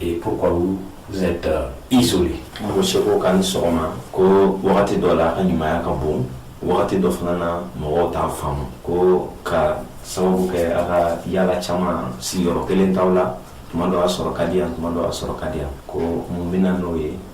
Et pourquoi vous, vous êtes euh, isolé Ko seko ka ni sɔgɔma ko wagati dɔ la a ka ɲumanya ka bon wagati dɔ fana na mɔgɔw t'a faamu ko ka sababu kɛ a ka yala caman sigiyɔrɔ kelen t'aw la tuma dɔ a sɔrɔ ka di yan tuma dɔ a sɔrɔ ka di yan ko mun bɛ na n'o ye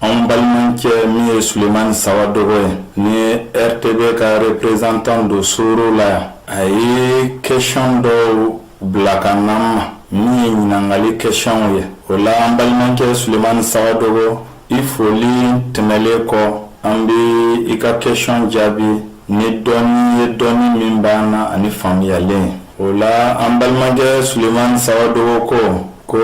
anw balimacɛ min ye sulemani sawadogo ye ni rtb ka reprezantan don suru la yan a ye kɛsiyɔn dɔw bila ka n'an ma min ye ɲinangali kɛsiyɔnw ye o la an balimacɛ sulemani sawadogo i foli tɛmɛlen kɔ an bɛ i ka kɛsiyɔn jaabi ni dɔɔni ye dɔɔni min b'an na ani faamuyalen o la an balimacɛ sulemani sawadogo ko ko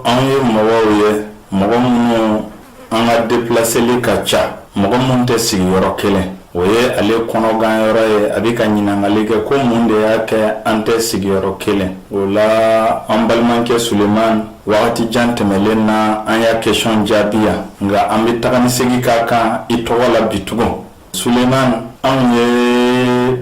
anw ye mɔgɔw ye mɔgɔ minnu an ka depilaseli ka ca mɔgɔ minnu tɛ sigi yɔrɔ kelen o ye ale kɔnɔgan yɔrɔ ye a bɛ ka ɲinangali kɛ ko mun de y'a kɛ an tɛ sigiyɔrɔ kelen o la an balimacɛ sulemani waati jan tɛmɛnlen na an y'a kɛsiyɔn jaabi yan nka an bɛ taga ni segin k'a kan i tɔgɔ la bi tugun Sulemani anw ye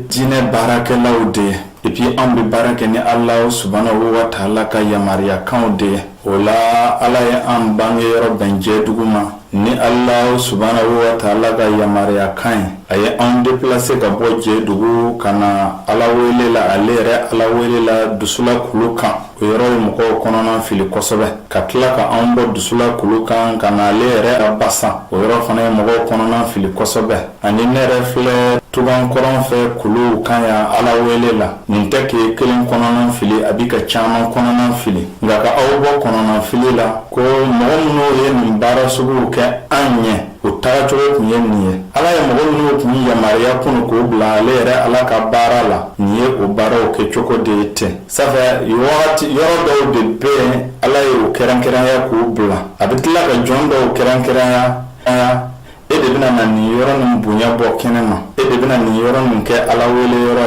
diinɛ baarakɛlaw de ye epi anw bɛ baara kɛ ni ala subahana wa taala ka yamaruyakanw de ye o la ala ye an bange yɔrɔ bɛn jɛdugu ma ni ala subahana wa taala ka yamaruyakan ye a ye an depilase ka bɔ jɛdugu ka na ala wele la ale yɛrɛ ala wele la dusula kulu kan o yɔrɔ ye mɔgɔw kɔnɔna fili kosɛbɛ ka tila ka anw bɔ dusula kulu kan ka na ale yɛrɛ a basan o yɔrɔ fana ye mɔgɔw kɔnɔna fili kosɛbɛ ani ne yɛrɛ filɛ tugan kɔrɔn fɛ kulu kan yan ala wele la nin tɛ k'e kelen kɔnɔna fili a bɛ ka caman kɔnɔna fili nka ka aw bɔ kɔnɔna fili la ko mɔgɔ minnu ye nin baara suguw kɛ an ɲɛ u tagacogo tun ye nin ye ala ye mɔgɔ minnu tun yamaruya kunun k'u bila ale yɛrɛ ala ka baara la nin ye u baaraw kɛcogo de ye ten Ça fait que yɔrɔ dɔw de bɛ yen ala ye u kɛrɛnkɛrɛnya k'u bila a bɛ tila ka jɔn dɔw kɛrɛnkɛrɛnya a e de bɛna na nin yɔrɔ nin bonya bɔ kɛnɛ ma e de bɛna nin yɔrɔ nin kɛ ala wele yɔrɔ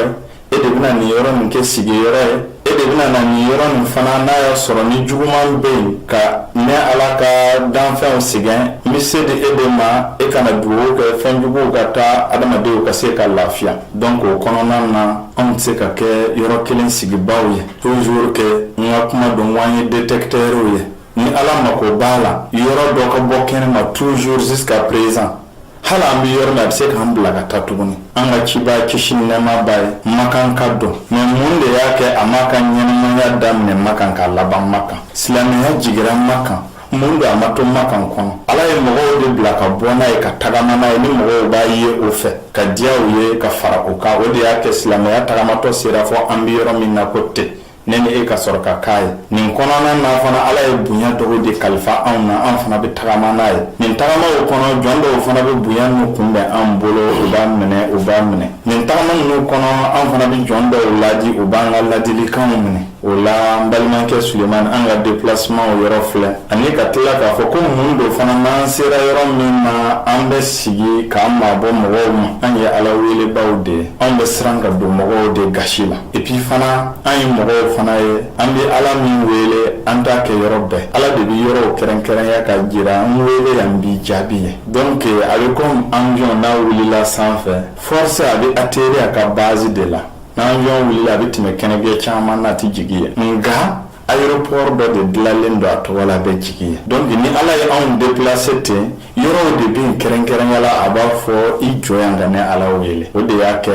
ye e de bɛna nin yɔrɔ nin kɛ sigi yɔrɔ ye e de bɛna na nin yɔrɔ nin fana n'a y'a sɔrɔ ni juguman bɛ yen ka ne ala ka danfɛnw sɛgɛn n bɛ se di e de ma e ka na dugawu kɛ fɛn juguw ka taa adamadenw ka se ka lafiya donc o kɔnɔna na anw tɛ se ka kɛ yɔrɔ kelen sigibaa ye toujours kɛ n ka kuma don wa an ye détecteurw ye ni ala mako b'a la yɔrɔ dɔ ka bɔ kɛnɛ ma toujours jusqu'à présent hali an bɛ yɔrɔ min a bɛ se k'an bila ka taa tuguni an ka cibaa kisi ni nɛɛma b'a ye makanka don mais mun de y'a kɛ a m'a ka ɲɛnamaya daminɛ makan k'a laban makan silamɛya jiginra makan mun don a ma to makan kɔnɔ ala ye mɔgɔw de bila ka bɔ n'a ye ka tagama n'a ye ni mɔgɔw b'a ye o fɛ ka diya u ye ka fara o kan o de y'a kɛ silamɛya tagamatɔ sera fo an bɛ yɔrɔ min na ko tɛ ne ni e ka sɔrɔ ka k'a ye nin kɔnɔna na fana ala ye bonya dɔw de kalifa anw na an fana bɛ tagama n'a ye nin tagamaw kɔnɔ jɔn dɔw fana bɛ bonya ninnu kunbɛn an bolo u b'a minɛ u b'a minɛ nin tagama ninnu kɔnɔ an fana bɛ jɔn dɔw laadi u b'an ka ladilikanw minɛ o la an balimakɛ Sulemani an ka déplacementw yɔrɔ filɛ ani ka tila k'a fɔ ko mun don fana n'an sera yɔrɔ min na an bɛ sigi k'an mabɔ mɔgɔw ma an ye Ala weelebaaw de ye anw bɛ siran ka don mɔgɔw de gasi la et puis fana an ye mɔgɔw fana ye an bɛ Ala min weele an t'a kɛ yɔrɔ bɛɛ Ala de bɛ yɔrɔw kɛrɛnkɛrɛnya k'a jira n weele yan n b'i jaabi yen donc a bɛ comme avion n'a wulila sanfɛ forcé a bɛ atterrir a ka base de la n'avion wulila a bɛ tɛmɛ kɛnɛjɛ caman na a tɛ jigin yen nka aéroport dɔ de dilanlen don a tɔgɔ la a bɛ jigin yen donc ni ala ye anw déplacer ten yɔrɔw de bɛ yen kɛrɛnkɛrɛnya la a b'a fɔ i jɔ yan ka ne ala wele o de y'a kɛ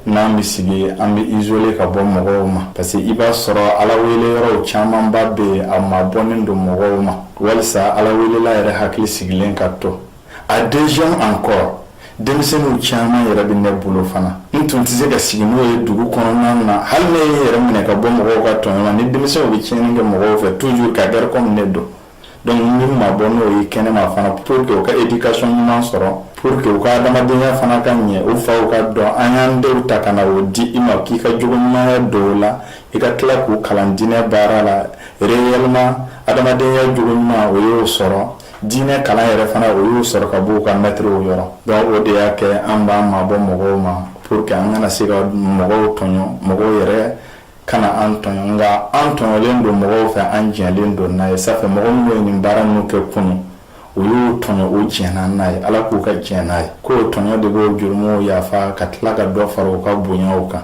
n'an bɛ sigi an bɛ izole ka bɔ mɔgɔw ma parce que i b'a sɔrɔ ala wele yɔrɔw camanba bɛ yen a mabɔnen don mɔgɔw ma walisa ala welela yɛrɛ hakili sigilen ka to A deuxième encore denmisɛnninw caman yɛrɛ bɛ ne bolo fana n tun tɛ se ka sigi n'o ye dugu kɔnɔna na hali ne ye n yɛrɛ minɛ ka bɔ mɔgɔw ka tɔn na ni denmisɛnw bɛ tiɲɛni kɛ mɔgɔw fɛ toujours ka gari kɔn ne don donc n bɛ n mabɔ n'o ye kɛnɛ ma fana pour que u ka éducation ɲuman sɔrɔ pour que u ka adamadenya fana ka ɲɛ u faw k'a dɔn an y'an denw ta ka na o di i ma k'i ka jogo ɲumanya don u la i ka tila k'u kalan diinɛ baara la réellement adamadenya jogo ɲuman o y'o sɔrɔ diinɛ kalan yɛrɛ fana o y'o sɔrɔ ka bɔ u ka mɛtiriw yɔrɔ donc o de y'a kɛ an b'an mabɔ mɔgɔw ma pour que an kana se ka mɔgɔw tɔɲɔ mɔgɔw yɛrɛ kana an tɔɲɔ nka an tɔɲɔlen don mɔgɔw fɛ an jɛnnen don n'a ye sanfɛ mɔgɔ minnu ye nin baara minnu kɛ kunu u y'u tɔɲɔ u jɛnna n'a ye ala k'u ka jɛn n'a ye k'o tɔɲɔ de b'o jurumuw yafa ka tila ka dɔ fara u ka bonyaw kan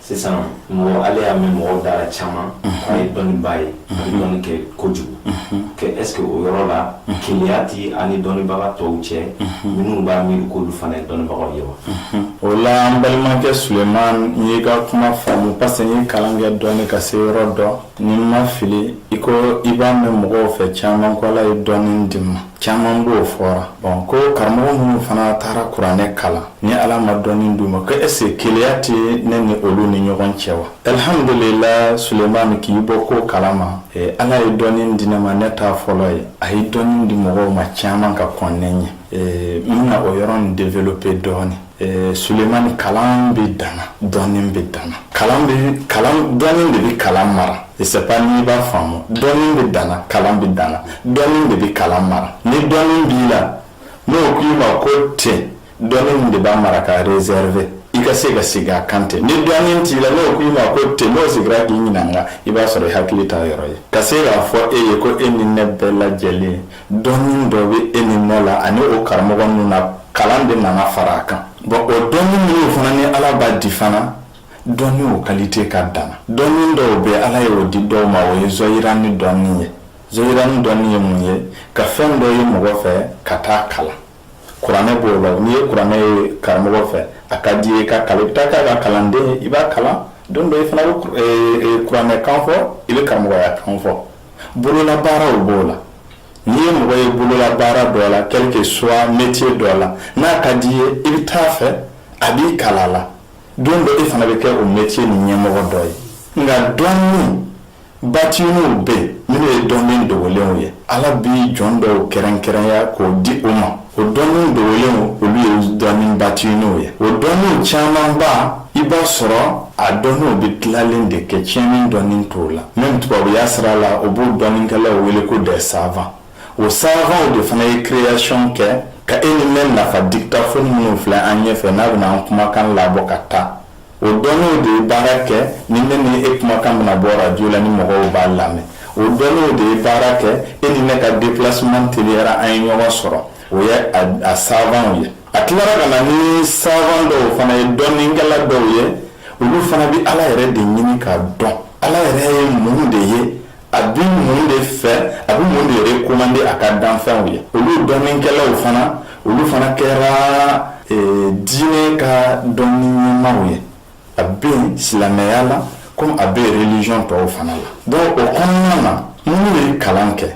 sisan mɔgɔ ale y'a mɛn mɔgɔw da la caman k'a ye dɔnnibaa ye a bɛ dɔnni kɛ kojugu est ce que o yɔrɔ la keleya tɛ a ni dɔnnibaga tɔw cɛ minnu b'a miiri k'olu fana ye dɔnnibagaw ye wa o la an balimakɛ suleman n y'i ka kuma faamu parce que n ye kalan kɛ dɔɔni ka se yɔrɔ dɔ ni n ma fili i ko i b'a mɛn mɔgɔw fɛ caman ko ala ye dɔnni di n ma caman b'o fɔra bɔn ko karamɔgɔ minnu fana taara kuranɛ kalan ni ala ma dɔnni d'u ma ko est-ce que keleya tɛ ne ni olu ni ɲɔgɔn cɛ wa alhamdulila suleman k'i bɔ ko kalan ma ala ye dɔnni di ne ma ne t'a fɔlɔ ye a ye dɔnni di mɔgɔw ma caman ka kɔn ne ɲɛ n bɛna o yɔrɔ nin develope dɔɔni Ee, Sulemani kalan bɛ danna dɔnni bɛ danna kalan bɛ kalan dɔnni de bɛ kalan mara sɛp n'i b'a faamu dɔnni bɛ danna kalan bɛ danna dɔnni de bɛ kalan mara ni dɔnni b'i la n'o k'i ma ko cɛ dɔnni de b'a mara k'a rezɛrve i ka se ka segin a kan tɛ ni dɔnni t'i la n'o k'i ma ko cɛ n'o sigira k'i ɲininka i b'a sɔrɔ i hakili t'a yɔrɔ ye ka se k'a fɔ e ye ko e ni ne bɛɛ lajɛlen ye dɔnni dɔ bɛ e ni ne la ani o karamɔgɔ ninnu na kalan de nana fara a kan bɔn o dɔnni minnu fana ni ala b'a di fana dɔnni o kalite ka dan dɔnni dɔw bɛ ala ye o di dɔw ma o ye zahirani dɔnni ye zahirani dɔnni ye mun ye ka fɛn dɔ ye mɔgɔ fɛ ka t'a kalan kuranɛ b'o la n'i ye kuranɛ ye karamɔgɔ fɛ a ka di i ye ka kalan i bɛ taa k'a ka kalanden i b'a kalan don dɔ i fana bɛ kuranɛ kan fɔ i bɛ karamɔgɔya kan fɔ Bololabaaraw b'o la n'i ye mɔgɔ ye bololabaara dɔ la quel que soit metiye dɔ la n'a ka di i ye i bɛ t'a fɛ a b'i kalan a la don dɔ e fana bɛ kɛ o metiye nin ɲɛmɔgɔ dɔ ye nka dɔnni batiniw bɛ yen minnu ye dɔnni dogolenw ye ala b'i jɔn dɔw kɛrɛnkɛrɛnya k'o di u ma o dɔnniw dogolen olu ye dɔnni batiniw ye o dɔnniw camanba i b'a sɔrɔ a dɔnniw bɛ tilalen de kɛ tiɲɛni dɔnni t'o la mɛ tubabuya sira la o b'o dɔnnikɛlaw wele ko dɛ savan o savanw de fana ye kireyasiɔn kɛ ka e ni ne nafa diktafɔni minnu filɛ an ɲɛ fɛ n'a bɛna an kumakan labɔ ka taa O dɔnniw de ye baara kɛ ni ne ni e kumakan bɛna bɔ arajo la ni mɔgɔw b'a lamɛn o dɔnniw de ye baara kɛ e ni ne ka déplacement teliyara an ye ɲɔgɔn sɔrɔ o ye a savanw ye a tilara ka na ni savan dɔw fana ye dɔnnikɛla dɔw ye olu fana bɛ Ala yɛrɛ de ɲini ka dɔn Ala yɛrɛ ye mun de ye a bɛ mun de fɛ a bɛ mun de rekomande a ka danfɛnw ye olu dɔnnikɛlaw fana olu fana kɛra diinɛ ka dɔnni ɲɛmaaw ye a bɛ silamɛya la komi a bɛ reliziyɔn tɔw fana la dɔnku o kɔnɔna na minnu ye kalan kɛ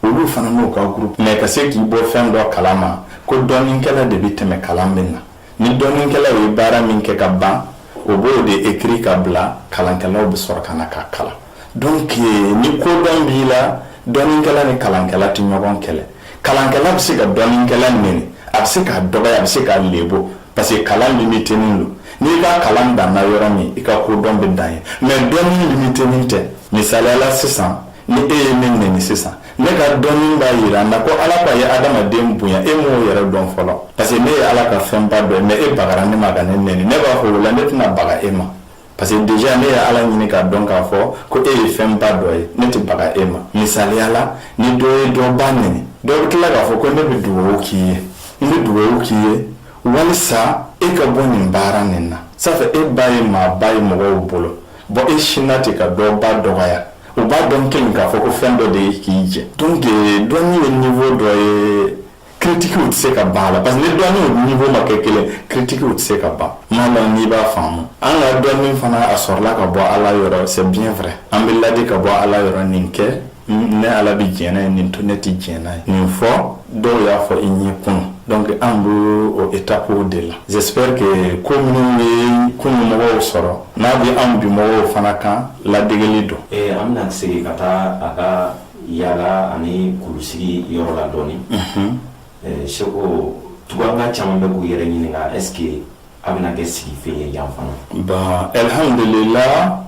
olu fana n'u ka grupu mɛ ka se k'i bɔ fɛn dɔ kalan ma ko dɔnnikɛla de bɛ tɛmɛ kalan bɛ na Ni dɔnnikɛlaw ye baara min kɛ ka ban o b'o de ekiri k'a bila kalankɛlaw bɛ sɔrɔ ka na k'a kalan dɔnku ni kodɔn b'i la dɔnnikɛla ni kalankɛla tɛ ɲɔgɔn kɛlɛ kalankɛla bɛ se ka dɔnnikɛla nɛni a bɛ se k'a dɔgɔya a bɛ se k'a lebu parce que kalan limitenin don n'i ka kalan danna yɔrɔ min i ka kodɔn bɛ dan yen mɛ dɔnni limitenin tɛ misali la sisan ni e ye min nin sisan ne ka dɔnni b'a yira n na ko ala ka ye adamaden bonya e m'o yɛrɛ dɔn fɔlɔ parce que ne ye ala ka fɛnba dɔ ye mais e bagara ne ma ka ne nɛni ne b'a fɔ o la ne tɛna baga e ma parce que déjà ne ye ala ɲini k'a dɔn k'a fɔ ko e ye fɛnba dɔ ye ne tɛ baga e ma misaliya la ni dɔ ye dɔ ba nɛni dɔ bɛ tila k'a fɔ ko ne bɛ dugawu k'i ye n bɛ dugawu k'i ye walisa e ka bɔ nin baara nin na ça fait e ba ye maaba ye mɔgɔw bolo bon e sinna ten ka dɔ ba dɔgɔya U b'a dɔn kelen k'a fɔ ko fɛn dɔ de ye k'i jɛ donc dɔnni ye niveau dɔ ye critiquew tɛ se ka ban la parce que ni dɔnni niveau ma kɛ kelen critiquew tɛ se ka ban n m'a lɔn n'i b'a faamu an ka dɔnni fana a sɔrɔla ka bɔ ala yɔrɔ c'est vrai an bɛ laadi ka bɔ ala yɔrɔ nin kɛ ne ala bɛ jɛn n'a ye nin to ne tɛ jɛn n'a ye nin fɔ dɔw y'a fɔ i ye kunun donc an bɛ o étapew de la j'espère que ko min bɛ kunun mɔgɔw sɔrɔ n'a bɛ an bi mɔgɔw fana kan ladegeli don. Ee an bɛna segin ka taa a ka yaala ani kulusigi yɔrɔ la dɔɔnin. Unhun. Seko Tuganka caman bɛ k'u yɛrɛ ɲininka est ce que a bɛna kɛ sigibaa ye yan fana. Ba alihamudulila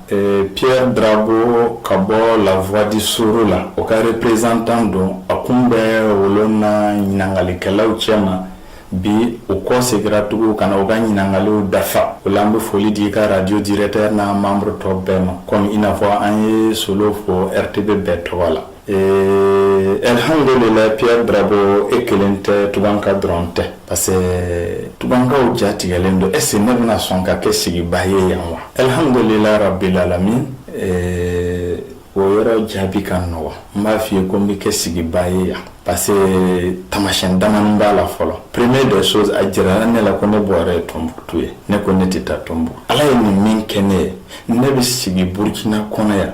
Pierre Drabo ka bɔ la voix du Sourou la o ka représentant don a kun bɛ wolo na ɲininkalikɛlaw cɛ ma bi u kɔsegira tugun ka na u ka ɲininkaliw dafa o la an bɛ foli di i ka radio directeur n'a membre tɔw bɛɛ ma comme i n'a fɔ an ye Solo fɔ RTB bɛɛ tɔgɔ la. Ee alihamdulila Pierre Drabo e kelen tɛ Tuganka dɔrɔn tɛ parce que Tugankaw ja tigɛlen don est ce que ne bɛna sɔn ka kɛ sigibaa ye yan wa alihamdulila rabilalamin o yɔrɔ jaabi ka nɔgɔ wa n b'a f'i ye ko n bɛ kɛ sigibaa ye yan parce que taamasyɛn damadɔ b'a la fɔlɔ première des choses a jirala ne la ko ne bɔra ye Tombouctou ye ne ko ne tɛ taa Tombouctou ala ye nin min kɛ ne ye ne bɛ sigi burukina kɔnɔ yan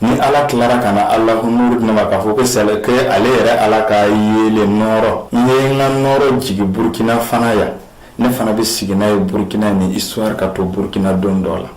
Ni ala tilara ka na ala ko mori ma k'a fɔ ko sa ale yɛrɛ ala ka yeelen nɔɔrɔ n ye n ka nɔɔrɔ jigin burukina fana yan ne fana bɛ sigi n'a ye burukina ni histoire ka to burukina don dɔ la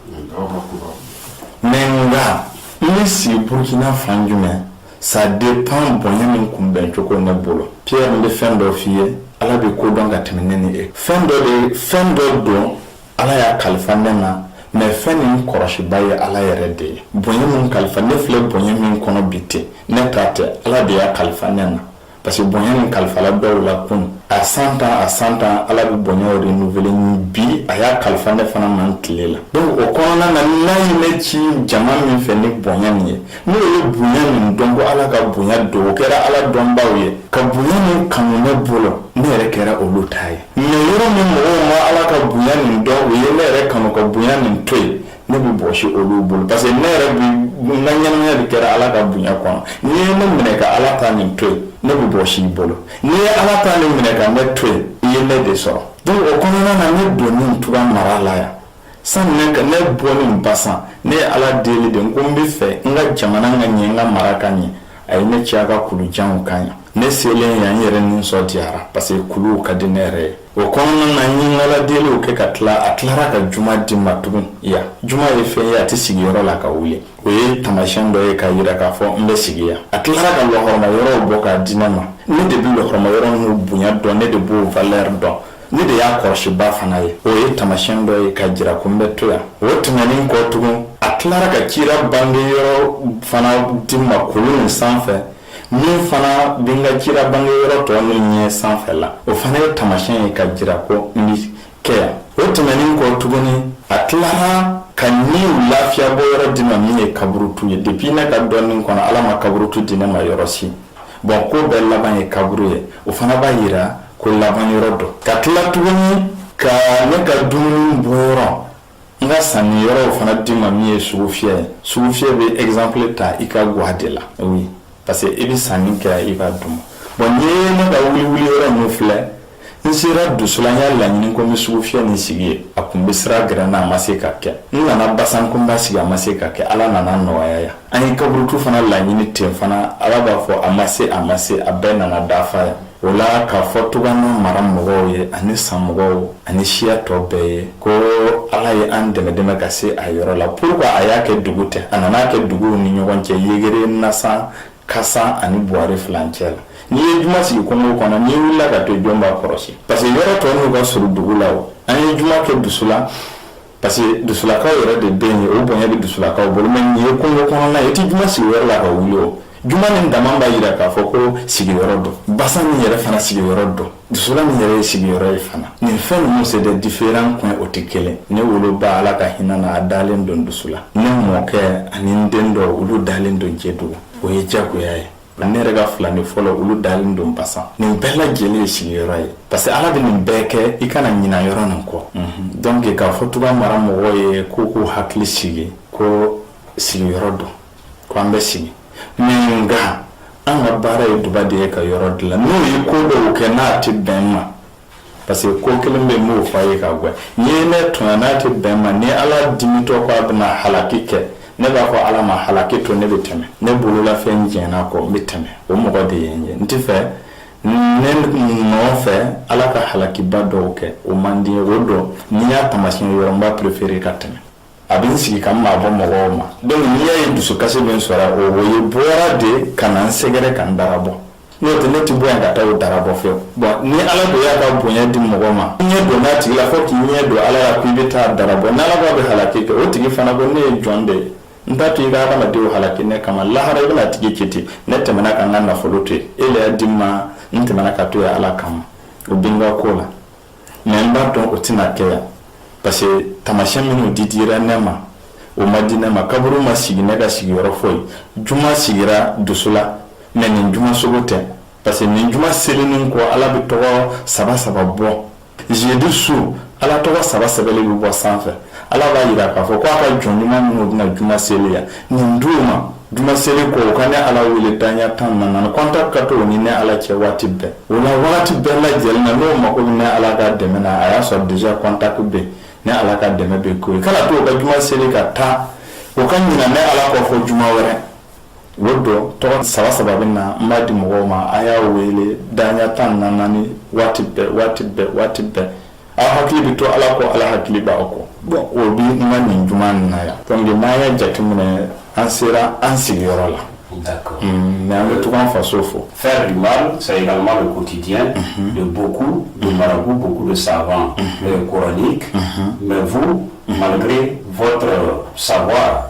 mais nka n bɛ sigi burukina fan jumɛn ça dépend bonya nin kunbɛn cogo ne bolo Pierre n bɛ fɛn dɔ f'i ye ala bɛ ko dɔn ka tɛmɛn ne ni e fɛn dɔ de fɛn dɔ don Ala y'a kalifa ne na mais fɛn nin kɔlɔsiba ye ala yɛrɛ de ye bonya min kalifa ne filɛ bonya min kɔnɔ bi ten ne ta tɛ ala de y'a kalifa ne na parce que bonya nin kalifala dɔw la kun a san tan a san tan ala bɛ bonya renouveler ni bi a y'a kalifa ne fana ma n tile la donc o kɔnɔna na n'a ye ne ci jama min fɛ ni bonya nin ye n'olu ye bonya nin dɔn ko ala ka bonya don o kɛra ala dɔnbaw ye ka bonya nin kanu ne bolo ne yɛrɛ kɛra olu ta ye Mais yɔrɔ min mɔgɔ ma ala ka bonya nin dɔn u ye ne yɛrɛ kanu ka bonya nin to yen ne bɛ bɔsi olu bolo parce que ne yɛrɛ na ɲɛmaaya de kɛra ala ka bonya kɔnɔ n'i ye ne minɛ ka ala ta nin to yen ne bɛ bɔsi i bolo n'i ye ala ta nin minɛ ka ne to yen i ye ne de sɔrɔ donc o kɔnɔna na ne donni tuga mara la yan Sani ne ka ne bɔlen basan ne ye ala deli de ko n b'a fɛ n ka jamana ka ɲɛ n ka mara ka ɲɛ a ye ne ci ka kulu janw ka ɲɛ ne selen yan n yɛrɛ nisɔn diyara parce que kulu ka di ne yɛrɛ ye o kɔnɔna na n ye n ka ala deliw kɛ ka tila a tilara ka juma di n ma tugun yan juma ye fɛn ye a tɛ sigi yɔrɔ la ka wuli o ye tamasiyɛn dɔ ye k'a jira k'a fɔ n bɛ sigi yan a tilara ka lahɔrɔma yɔrɔw bɔ k'a di ne ma ne de bɛ lahɔrɔma yɔrɔ ninnu bonya dɔn ne de b'u valeur dɔn ne de y'a kɔlɔsiba fana ye o ye tamasiyɛn dɔ ye k'a jira ko n bɛ to yan o tɛmɛnen kɔ tugun a tilara ka cira bange yɔrɔ fana di n ma kulu nin sanfɛ min fana bɛ n ka cira bange yɔrɔ tɔ n'o ɲɛ sanfɛ la o fana ye tamasiyɛn ye k'a jira ko n bɛ kɛ yan o tɛmɛnen kɔ tuguni a tilara ka niw lafiya bɔ yɔrɔ di n ma min ye kaburutu ye depuis ne ka dɔnni kɔnɔ ala ma kaburutu di ne ma yɔrɔ si Bon ko bɛɛ laban ye kaburu ye o fana b'a jira ko laban yɔrɔ don ka tila tuguni ka ne ka dumuni bɔ yɔrɔ n ka sanni yɔrɔ o fana di n ma min ye sugufiyɛ ye sugufiyɛ bɛ exemple ta i ka ga de la parce que i bɛ sanni kɛ i ka dun ma bon n ye ne ka wuli wuli yɔrɔ ninnu filɛ n sera dusulan n y'a laɲini ko n bɛ sugufiyɛ nin sigi yen a tun bɛ sira gɛrɛn na a ma se ka kɛ n nana basan ko n b'a sigi a ma se ka kɛ ala nana nɔgɔya yan an ye kaburutu fana laɲini ten fana ala b'a fɔ a ma se a ma se a bɛɛ nana dafa yan o la k'a fɔ tuga n'a mara mɔgɔw ye ani san mɔgɔw ani siya tɔ bɛɛ ye ko ala ye an dɛmɛ dɛmɛ ka se a yɔrɔ la pourquoi a y'a kɛ dugu tɛ a nana kɛ duguw ni ɲɔgɔn cɛ yegere nasan Kasan ani Buwari furancɛ la, n'i ye juma sigi kungo kɔnɔ, n'i wulila ka to yen, jɔn b'a kɔlɔsi? parce que yɔrɔ tɔ ninnu ka surun dugu la o, an ye juma kɛ Dusulan parce que Dusulakaw yɛrɛ de bɛ yen, o bonya bɛ Dusulakaw bolo mais nin ye kungo kɔnɔna ye, i tɛ juma sigi o yɔrɔ la ka wuli o, juma nin dama b'a jira k'a fɔ ko sigiyɔrɔ don, Basan nin yɛrɛ fana sigiyɔrɔ don. dusulan nin yɛrɛ ye sigiyɔrɔ ye fana nin fɛn ninnu c'est des différents coins o tɛ kelen ne woloba ala ka hinɛ na a dalen don dusulan ne mɔkɛ ani n den dɔ olu dalen don jedugu o ye jagoya ye ne yɛrɛ ka filanin fɔlɔ olu dalen don basan nin bɛɛ lajɛlen ye sigiyɔrɔ ye parce que ala bɛ nin bɛɛ kɛ i kana ɲina yɔrɔ nin kɔ mhm. donc k'a fɔ tuga mara mɔgɔ ye ko k'u hakili sigi ko sigiyɔrɔ don K' an bɛ sigi nka an ka baara ye duba de ye ka yɔrɔ dilan n'o ye ko dɔw kɛ n'a tɛ bɛn ma parce que ko kelen bɛ b'o fɔ a ye ka gɛn n ye ne to n'a tɛ bɛn ma ni ala dimitɔ ko a bɛna halaki kɛ ne b'a fɔ ala ma hakɛ to ne bɛ tɛmɛ ne bololafɛn diɲɛna kɔ n bɛ tɛmɛ o mɔgɔ de ye n ye n tɛ fɛ ne mɔgɔ fɛ ala ka halakiba dɔw kɛ o manden o dɔn n'i y'a tamasi yɔrɔ n b'a préférer ka tɛmɛ a bɛ n sigi ka n mabɔ mɔgɔw ma donc n'i y'a ye dusu kasi bɛ n sɔrɔ o o ye bɔra de ka na n sɛgɛrɛ ka n dara bɔ n'o tɛ ne tɛ bɔ yan ka taa o dara bɔ fɛwu bon ni Ala ko y'a ka bonya di mɔgɔ ma i ɲɛ donna a tigi la fo k'i ɲɛ don Ala la ko i bɛ taa a dara bɔ ni Ala ko a bɛ halaki kɛ o tigi fana ko ne ye jɔn de ye n t'a to i ka hadamadenw halaki ne kama lahara i bɛna a tigi ci ten ne tɛmɛna ka n ka nafolo to yen e le y'a di n ma n tɛmɛna ka to yan Ala kama o bɛ n ka ko la mais n b'a dɔn o tɛna kɛ yan parce que tamasiyɛn minnu didira ne ma o ma di ne ma kaburu ma sigi ne ka sigiyɔrɔ foyi juma sigira dusu la mais nin juma sugu tɛ parce que nin juma selinin kɔ ala bɛ tɔgɔ saba saba bɔ jeudi su ala tɔgɔ saba sɛbɛli bɛ bɔ sanfɛ ala b'a jira k'a fɔ ko a ka jɔn ɲuman minnu bɛna juma seli yan nin du ma Juma selilen kɔ u ka ne ala wele daya tan ni naani contact ka to ni ne ala cɛ waati bɛɛ u na waati bɛɛ la lajɛlen na n'u mako bɛ ne ala ka dɛmɛ na a y'a sɔrɔ déjà contact bɛ ne ala ka dɛmɛ bɛ ko kana to ka juma seli ka taa u ka ɲina ne ala kɔ fo juma wɛrɛ o don tɔgɔ saba saba bɛ na n b'a di mɔgɔw ma a y'a wele daya tan ni naani waati bɛɛ waati bɛɛ waati bɛɛ aw hakili bɛ to ala ko ala hakili b'a kɔ bɔn o bɛ ma nin juma na yan dɔnku n'a ye jateminɛ an sera an sigiyɔrɔ la mɛ an bɛ tun an faso fɔ fɛn dun sayilama bɛ koti diɲɛ de bɔku don maraku bɔku de saban kɔrɔɔni mɛ fu malibre vɔtɔ sawa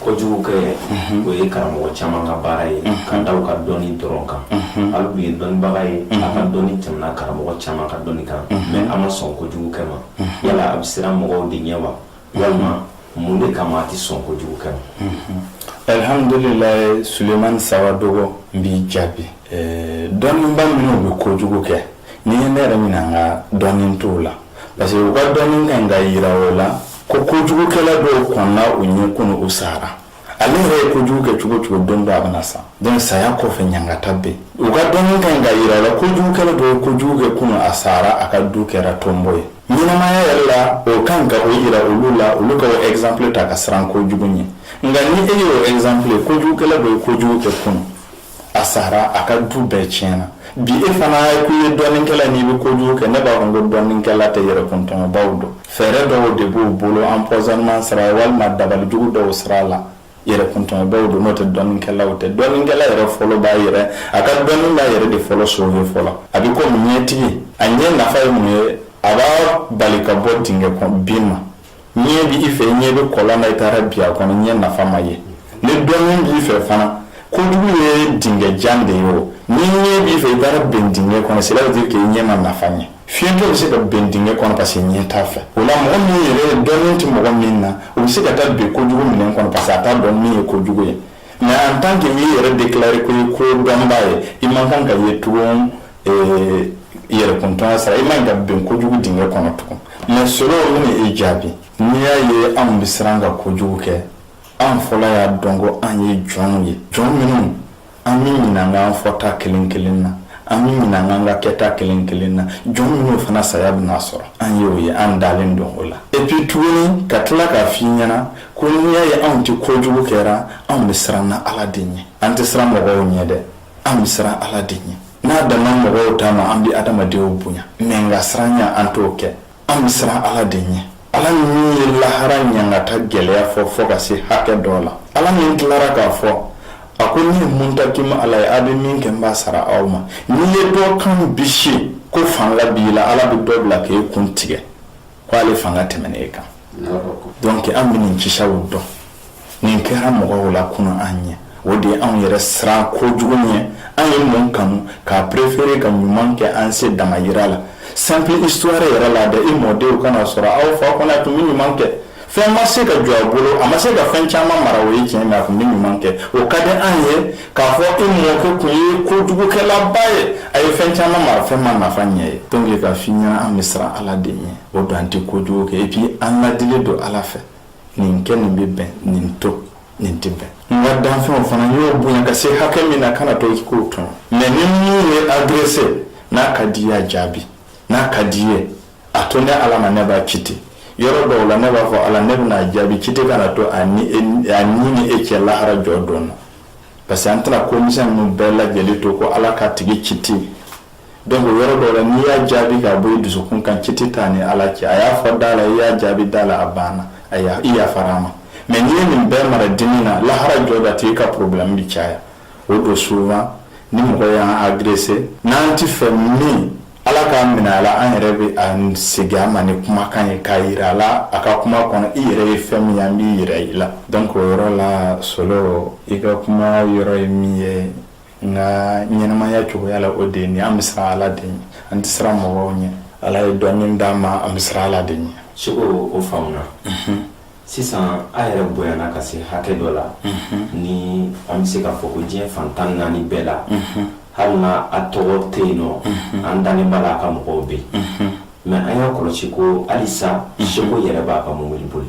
kojugukɛ o ye karamɔgɔ caman ka baara ye k'a da u ka dɔnni dɔrɔn kan ale dun ye dɔnnibaga ye a ka dɔnni tɛmɛna karamɔgɔ caman ka dɔnni kan mais a ma sɔn kojugukɛ ma yala a bɛ siran mɔgɔw de ɲɛ wa walima mun de kama a tɛ sɔn kojugukɛ ma alihamdulila sulemani sawadogo n b'i jaabi dɔnniba minnu bɛ kojugu kɛ n'i ye ne yɛrɛ ɲininka dɔnni t'u la parce que u ka dɔnni ka ɲi ka yira o la ko kojugukɛla dɔw kɔnna u ɲɛ kunu u sara ale yɛrɛ ye kojugu kɛ cogo o cogo don dɔ a bɛna sa donc saya kɔfɛ ɲangata bɛ u ka dɔnni ka ɲi ka yira o la kojugukɛla dɔw ye kojugu kɛ kunu a sara a ka du kɛra tonbo ye ɲɛnamaya yɛrɛ la o ka kan ka o yira olu la olu ka o exemple ta ka siran kojugu ɲɛ nka ni e y'o exemple ye kojugukɛla dɔ ye kojugu kɛ kunu a sara a ka du bɛɛ tiɲɛna bi e fana ye ko ye dɔnnikɛla n'i bɛ kojugu kɛ ne b'a fɔ ko dɔnnikɛla tɛ yɛrɛ kɔntɔnbaw don fɛɛrɛ dɔw de b'u bolo empoisonnement sara ye walima dabalijugu dɔw sira la yɛrɛ kɔntɔnbaw don n'o tɛ dɔnnikɛlaw tɛ dɔnnikɛla yɛrɛ fɔlɔ b'a yɛrɛ a ka dɔnni b'a yɛrɛ de fɔlɔ sauver fɔlɔ a bɛ komi ɲɛtigi a ɲɛ nafa ye mun ye a b'a bali ka bɔ dingɛ kɔnɔ bin ma Ɲɛ bɛ i fɛ ɲɛ bɛ kɔlɔn na i taara bin a kɔnɔ ɲɛ nafa ma ye ni dɔnni b'i fɛ fana kojugu ye dingɛjan de ye o ni ɲɛ b'i fɛ i taara bin dingɛ kɔnɔ sira bɛ k'i ɲɛ ma nafa ɲɛ fiɲɛtɔ bɛ se ka bin dingɛ kɔnɔ parce que ɲɛ t'a fɛ o la mɔgɔ min yɛrɛ ye dɔnni tɛ mɔgɔ min na o bɛ se ka taa bin kojugu dingɛ kɔnɔ parce que a t'a dɔn min ye kojugu ye mais en tant que i y'i yɛrɛ déclarer ko i ye kodɔnba ye i man kan ka ye tugun Ee yɛrɛkuntanya sira i man ka bin kojugu dingɛ kɔnɔ tugun mais Solo n b'i jaabi n'i y'a ye anw bɛ siran ka kojugu kɛ an fɔlɔ y'a dɔn ko an ye jɔnw ye jɔn minnu an bɛ ɲininka an fɔta kelen kelen na an bɛ ɲininka an ka kɛta kelen kelen na jɔn minnu fana saya bɛna sɔrɔ an y'o ye an dalen don o la et puis tuguni ka tila k'a f'i ɲɛna ko n'i y'a ye anw tɛ kojugu kɛra anw bɛ siran na Ala de ɲɛ an tɛ siran mɔgɔw ɲɛ dɛ an bɛ siran ala de ɲɛ n'a dama mɔgɔw ta ma an bɛ adamadenw bonya mais nka siranya an t'o kɛ an bɛ siran ala de ɲɛ ala min ye lahara ɲangata gɛlɛya fɔ fɔ ka se hakɛ dɔ la ala min tilara k'a fɔ a ko ne muntakimu ala ye a bɛ min kɛ n b'a sara aw ma n'i ye dɔ kan bisi ko fanga b'i la ala bɛ dɔ bila k'e kun tigɛ k' ale fanga tɛmɛn e kan donc an bɛ nin kisaw dɔn nin kɛra mɔgɔw la kunun an ɲɛ o de ye anw yɛrɛ siran kojugu ɲɛ an ye nin kanu k'a préférer ka ɲuman kɛ an se damajira la simple histoire yɛrɛ la dɛ i mɔdenw ka na a sɔrɔ aw fa kɔni tun bɛ ɲuman kɛ Fɛn ma se ka jɔ a bolo a ma se ka fɛn caman mara o ye tiɲɛ mais a tun bɛ ɲuman kɛ o ka di an ye k'a fɔ e mɔkɛ tun ye kojugukɛlaba ye a ye fɛn caman mara fɛn ma nafa ɲɛ i ye donc k'a f'i ɲɛna an bɛ siran ala de ɲɛ o don an tɛ kojugu kɛ et puis an ladilen don ala fɛ nin kɛ nin bɛ bɛn nin to nin tɛ bɛn n ka danfɛnw fana n y'o bonya ka se hakɛ min na kana to ko tɔn mais ni minnu y'i agresser n'a ka di i ye a jaabi n'a ka di i ye a to ne ala ma ne b'a kiti yɔrɔ dɔw la ne b'a fɔ ala ne bɛn'a jaabi kiti kana to an ni nin cɛ lahara jɔdon na parce que an tɛna ko misɛn ninnu bɛɛ lajɛlen to ko ala k'a tigi kiti donc o yɔrɔ dɔw la n'i y'a jaabi ka bɔ i dusukun kan kiti t'a ni ala cɛ a y'a fɔ da la i y'a jaabi da la a banna a i yafara a ma mais n'i ye nin bɛɛ mara dimi na lahara jɔdon a tigi ka problème bɛ caya o don souvent ni mɔgɔ y'an agrese n'an tɛ fɛ min ala k'a minɛ a la an yɛrɛ bɛ a segin a ma ni kumakan ye k'a jira a la a ka kuma kɔnɔ i yɛrɛ ye fɛn min an b'i jira i la donc o yɔrɔ la solo i ka kuma yɔrɔ ye min ye nka ɲɛnɛmaya cogoya la o de nin an bɛ siran ala de an tɛ siran mɔgɔw ɲɛ ala ye dɔn min d'a ma an bɛ siran ala de ɲɛ segu o faamuya sisan a yɛrɛ bonyana ka se hakɛ dɔ la ni an bɛ se k'a fɔ ko diɲɛ fan tan naani bɛɛ la hali n'a tɔgɔ tɛ yen nɔ an dalen b'a la a ka mɔgɔw bɛ yen mɛ an y'a kɔlɔsi ko halisa seko yɛrɛ b'a ka mobili boli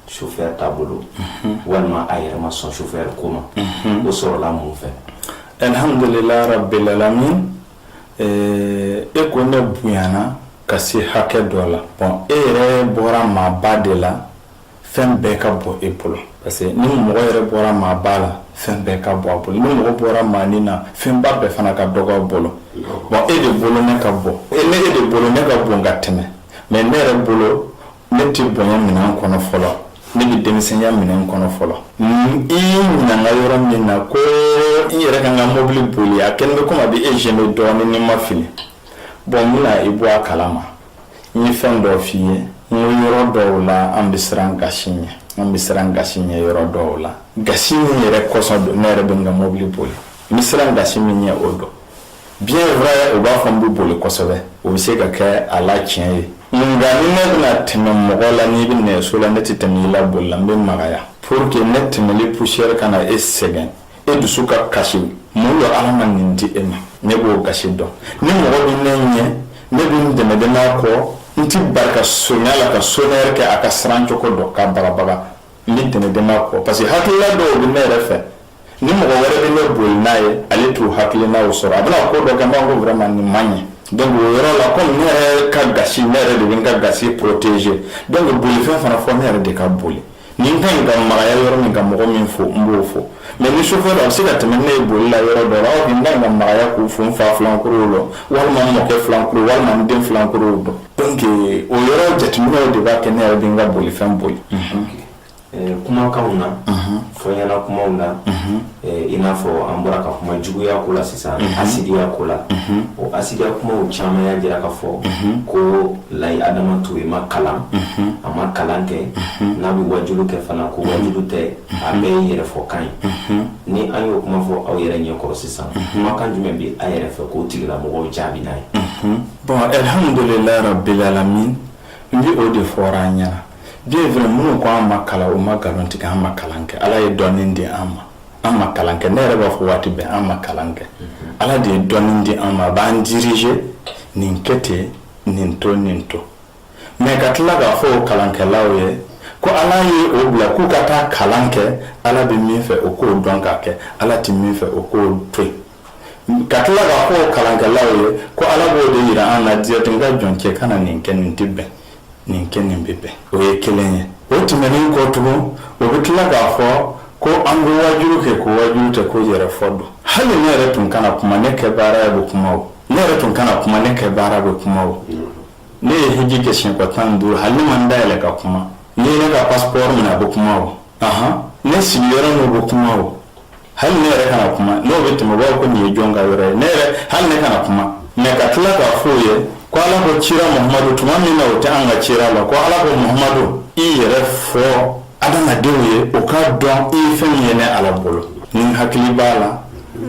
sofɛri t'a bolo walima a yɛrɛ ma sɔn sofɛri ko ma o sɔrɔla mun fɛ alhamdulilayi rabbil alamin e ko ne bonyana ka se hakɛ dɔ la bɔn e yɛrɛ bɔra maaba de la fɛn bɛɛ ka bon e bolo parce que ni mɔgɔ yɛrɛ bɔra maaba la fɛn bɛɛ ka bon a bolo ni mɔgɔ bɔra maanin na fɛnba bɛɛ fana ka dɔgɔ a bolo bɔn e de bolo ne ka bon ne e de bolo ne ka bon ka tɛmɛ mɛ ne yɛrɛ bolo ne tɛ bonya minɛn kɔnɔ fɔlɔ ne bɛ denmisɛnya minɛn kɔnɔ fɔlɔ i ɲininka yɔrɔ min na ko n yɛrɛ ka n ka mobili boli a kɛlen bɛ kɔmi a bɛ e zɛnɛ dɔɔnin ni n ma fili bɔn n bɛna i bɔ a kala ma n ye fɛn dɔ f'i ye n ko yɔrɔ dɔw la an bɛ siran gasi ɲɛ an bɛ siran gasi ɲɛ yɔrɔ dɔw la gasi min yɛrɛ kɔsɔn don ne yɛrɛ bɛ n ka mobili boli n bɛ siran gasi min ɲɛ o dɔn Bien vrai u b'a fɔ n bɛ boli kosɛbɛ o bɛ se ka kɛ a la tiɲɛ ye nka ni ne bɛna tɛmɛ mɔgɔ la n'i bɛ nɛgɛso la ne tɛ tɛmɛ i la boli la n bɛ magaya pour que ne tɛmɛli poussière kana e sɛgɛn e dusu ka kasi mun don ala ma nin di e ma ne b'o gasi dɔn ni mɔgɔ bɛ ne ɲɛ ne bɛ n dɛmɛdɛmɛ a kɔ n tɛ bari ka sone a la ka sonɛri kɛ a ka siran cogo dɔ k'a bagabaga Ni tɛmɛ den kɔ parce que hakilila dɔw bɛ ne yɛrɛ fɛ ni mɔgɔ wɛrɛ bɛ ne boli n'a ye ale t'o hakili n' sɔrɔ a bɛna ko dɔ kɛ b'a ko wɛrɛ ma nin man ɲi donc o yɔrɔ la ko ne yɛrɛ ka ga ne yɛrɛ de bɛ n ka ga poroteze don bɛ bolifɛn fana fo ne yɛrɛ de k'a boli ni n ka ɲi ka magaya yɔrɔ min ka mɔgɔ min fo n b'o fo mɛ ni so dɔ a bɛ se ka tɛmɛ ne ye boli la yɔrɔ dɔn aw ka magaya k'u fo n fa filankuru la walima mɔkɛ filankuru walima den filankuru don donc euh, o yɔrɔ jateminɛw de b'a kɛ ne yɛrɛ bɛ n ka bolifɛn boli euh, kumakanw na fɔɲɛna kumaw na euh, i n'a fɔ an bɔra ka kuma juguya ko la sisan hasidiya ko la o hasidiya kumaw caman y'a jira k'a fɔ ko layi adama ture ma kalan a ma kalan kɛ n'a bɛ wajulu kɛ fana ko wajulu tɛ a bɛɛ ye yɛrɛfɔ kan ye ni an y'o kuma fɔ aw yɛrɛ ɲɛkɔrɔ sisan kumakan jumɛn bɛ a yɛrɛ fɛ k'o tigilamɔgɔw jaabi n'a ye Bon alihamdulila rabilalamin n bɛ o de fɔra an ɲɛna den fana minnu ko an ma kalan u ma nkalon tigɛ an ma kalan kɛ ala ye dɔnni di an ma an ma kalan kɛ ne yɛrɛ b'a fɔ waati bɛɛ an ma kalan kɛ ala de ye dɔnni di an ma a b'an diriger nin kɛ ten nin to nin to mɛ ka tila k'a fɔ o kalankɛlaw ye ko ala ye o bila k'u ka taa kalan kɛ ala bɛ min fɛ o k'o dɔn k'a kɛ ala tɛ min fɛ o k'o to yen ka tila k'a fɔ o kalankɛlaw ye ko ala b'o de jira an na diɲɛtigɛ jɔncɛ kana nin kɛ nin tɛ bɛn nin kɛ nin bɛ bɛn o ye kelen ye o tɛmɛnen kɔ tugun o bɛ tila k'a fɔ ko an bɛ wajuru kɛ ko wajuru tɛ ko yɛrɛ fɔ don hali ne yɛrɛ tun kana kuma ne kɛ baara bɛ kuma o ne yɛrɛ tun kana kuma ne kɛ baara bɛ kuma o ne ye hiji kɛ siɲɛ tan ni duuru hali n ma n da yɛlɛ ka kuma n'i ye ne ka paspɔri minɛ a bɛ kuma o ne sigiyɔrɔ n'o bɛ kuma o hali ne yɛrɛ kana kuma n'o bɛ tɛmɛ b'a ko nin ye jɔn ka yɔrɔ ye ne yɛrɛ hali ne kana kuma mɛ ka tila k'a fɔ o ye ko ala ko cira mahamadu tuma min na o tɛ an ka cira la ko ala ko mahamadu i yɛrɛ fɔ adamadenw ye o k'a dɔn i ye fɛn min ye ne ala bolo n hakili b'a la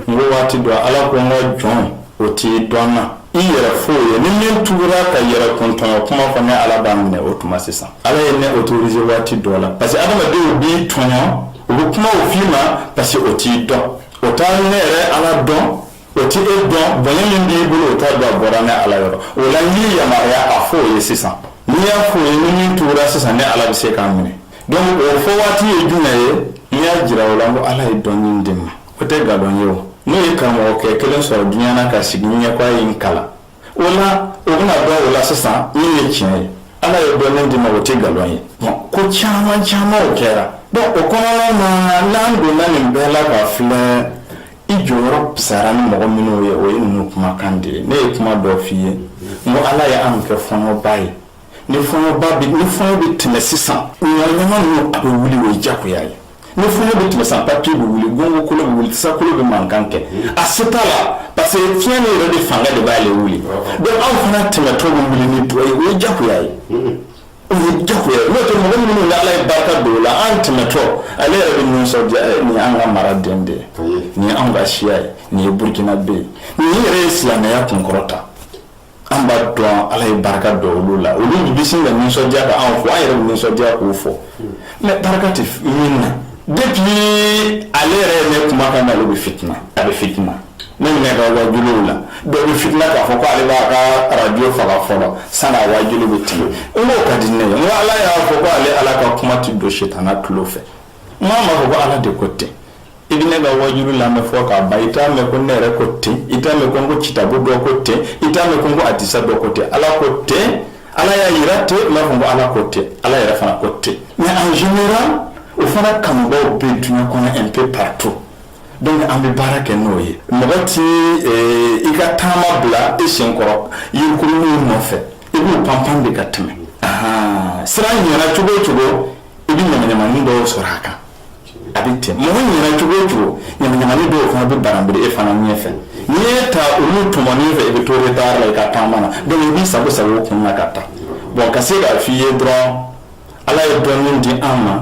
n ko waati don ala ko n ka jɔn o t'i dɔn na I yɛrɛ fɔ o ye ni min tugura ka yɛrɛ kun tɔɲɔ kuma fɔ ne ala b'a minɛ o tuma sisan ala ye ne autorisé waati dɔ la parce que adamadenw b'i tɔɲɔ o bɛ kuma o fɔ i ma parce que o t'i dɔn o tɛ ne yɛrɛ ala dɔn o t tɛ e dɔn bonya min b'i bolo o t'a dɔn a bɔra ne ala yɔrɔ o la n y'i yamaruya a fɔ o ye sisan n'i y'a fɔ o ye ni min tugura sisan ne ala bɛ se k'a minɛ donc o fɔ waati ye jumɛn ye n y'a jira o la n ko ala ye dɔnni di n ma o tɛ nkalon ye o n'o ye karamɔgɔkɛ kelen sɔrɔ duniɲa na ka sigi ɲɛ ko a ye n kalan o la o bɛn'a dɔn o la sisan min ye tiɲɛ ye ala ye dɔnni di n ma o tɛ nkalon ye ko caman caman o kɛra dɛ o kɔnɔna na n'an donna nin bɛɛ la k'a filɛ i jɔyɔrɔ pisara ni mɔgɔ minnu ye o ye ninnu kumakan de ye ne ye kuma dɔ f'i ye n ko ala ye an kɛ fɔɲɔba ye ni fɔɲɔba bɛ ni fɔɲɔ bɛ tɛmɛ sisan ɲamanɲaman ninnu a bɛ wuli o ye jagoya ye ni fɔɲɔ bɛ tɛmɛ sisan papiye bɛ wuli gongokolon bɛ wuli tasakolon bɛ mankan kɛ a se t'a la parce que fiɲɛ min yɛrɛ de fanga de b'ale wuli donc an fana tɛmɛtɔ bɛ wuli ni dɔ ye o ye jagoya ye o ye jagoya ye n'o tɛ mɔgɔ minnu ni ala ye barika don o la an tɛmɛtɔ ale yɛrɛ bɛ nisɔndiya ɛ nin y'an ka mara den de ye nin ye anw ka siya ye nin ye burukinabe ye nin yɛrɛ ye silamɛya kunkɔrɔta An b'a dɔn ala ye barika don olu la olu bɛ se ka nisɔndiya ka anw fo an yɛrɛ nisɔndiya k'o fo mɛ barika tɛ min na dun ale yɛrɛ ye ne kuma kan na bɛ fit a bɛ fit ne wajuw la dɔw bɛ fitla k'a fɔ ko ale b'a ka arajo faga fɔlɔ sani waju bɛ tila n ka di ne ala y'a fɔ ko ale ala ka kuma tɛ don sitanɛ tulo fɛ Mais n b'a fɔ ko ala de ko ten i bɛ ne ka waajuli lamɛn fo k'a ban i t'a mɛn ko ne yɛrɛ ko ten i t'a mɛn ko n ko kitabu dɔ ko ten i t'a mɛn ko n ko hadisa dɔ ko ten ala ko ten ala y'a jira ten n b'a fɔ ko ala ko ten ala yɛrɛ fana ko ten mais en général o fana kanubaw bɛ duɲa kɔnɔ un peu partout donc an bɛ baara kɛ n'o ye mɔgɔ tɛ eh, i ka taama bila i sen kɔrɔ yirikurunw nɔfɛ i b'u panpan de ka tɛmɛ sira ɲɛna cogo o cogo i bɛ ɲamaɲamanin dɔw sɔrɔ a kan a bɛ tɛmɛ mɔgɔ ɲɛna cogo o cogo ɲamaɲamanin dɔw fana bɛ baranbere e fana ɲɛfɛ n'i ye ta olu tɔmɔni fɛ i bɛ to de baara la i ka taama na donc i b'i sagon sagon u kun na ka taa bon ka se k'a f'i ye dɔrɔn ala ye dɔnni di an ma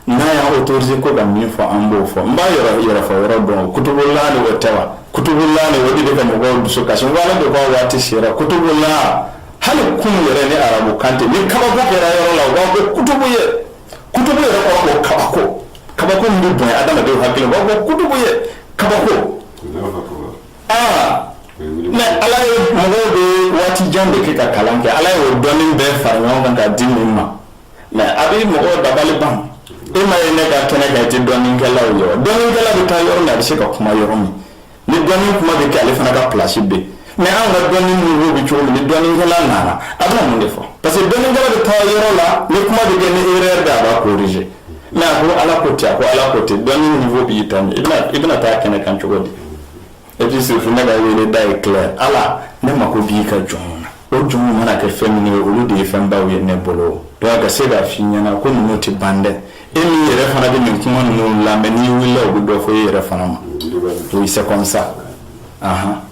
n'a y'a autorisé ko ka min fɔ an b'o fɔ n b'a yɛrɛ yɛrɛ fɔ yɔrɔ dɔn kutubulan de o tɛ wa kutubulan de o de bɛ ka mɔgɔw dusu kasi n ko ala de k'a waati sera kutubulan hali kun yɛrɛ ni arabu kan tɛ ni kabako kɛra yɔrɔ la u b'a fɔ kutubu ye kutubu yɛrɛ kɔrɔ ko kabako kabako min bɛ bonya adamadenw hakili u b'a fɔ kutubu ye kabako aa mais ala ye, mɔgɔw bɛ waati jan de kɛ ka kalan kɛ ala ye o dɔnnin bɛɛ fara ɲɔgɔn kan ka di min ma mais a bɛ mɔgɔw dabali ban e ma ye ne ka kɛnɛ kan i tɛ dɔnninkɛlaw ye dɔnninkɛla bɛ taa yɔrɔ min a bɛ se ka kuma yɔrɔ min ni dɔnni kuma bɛ kɛ ale fana ka plasi bɛ mais an ka dɔnni niveau bɛ cogo di ni dɔnnikɛla nana a bɛna mun de fɔ parce que dɔnnikɛla bɛ taa yɔrɔ la ni kuma bɛ kɛ ni erreur de a b'a corriger mais a ko ala ko ten a ko ala ko ten dɔnni niveau b'i ta i bɛna taa kɛnɛ kan cogo di e bɛ sigi fo ne ka wele da ye tila ala ne mako b'i ka jɔn na o jɔnw mana kɛ fɛn min ye olu de ye fɛn baw ye ne bolo donc ka se k'a f'i ɲɛna ko ninnu tɛ ban dɛ e min yɛrɛ fana bɛ nin kuma ninnu lamɛn n'i wulila u bɛ dɔ fɔ e yɛrɛ fana ma oui c'est comme ça ahan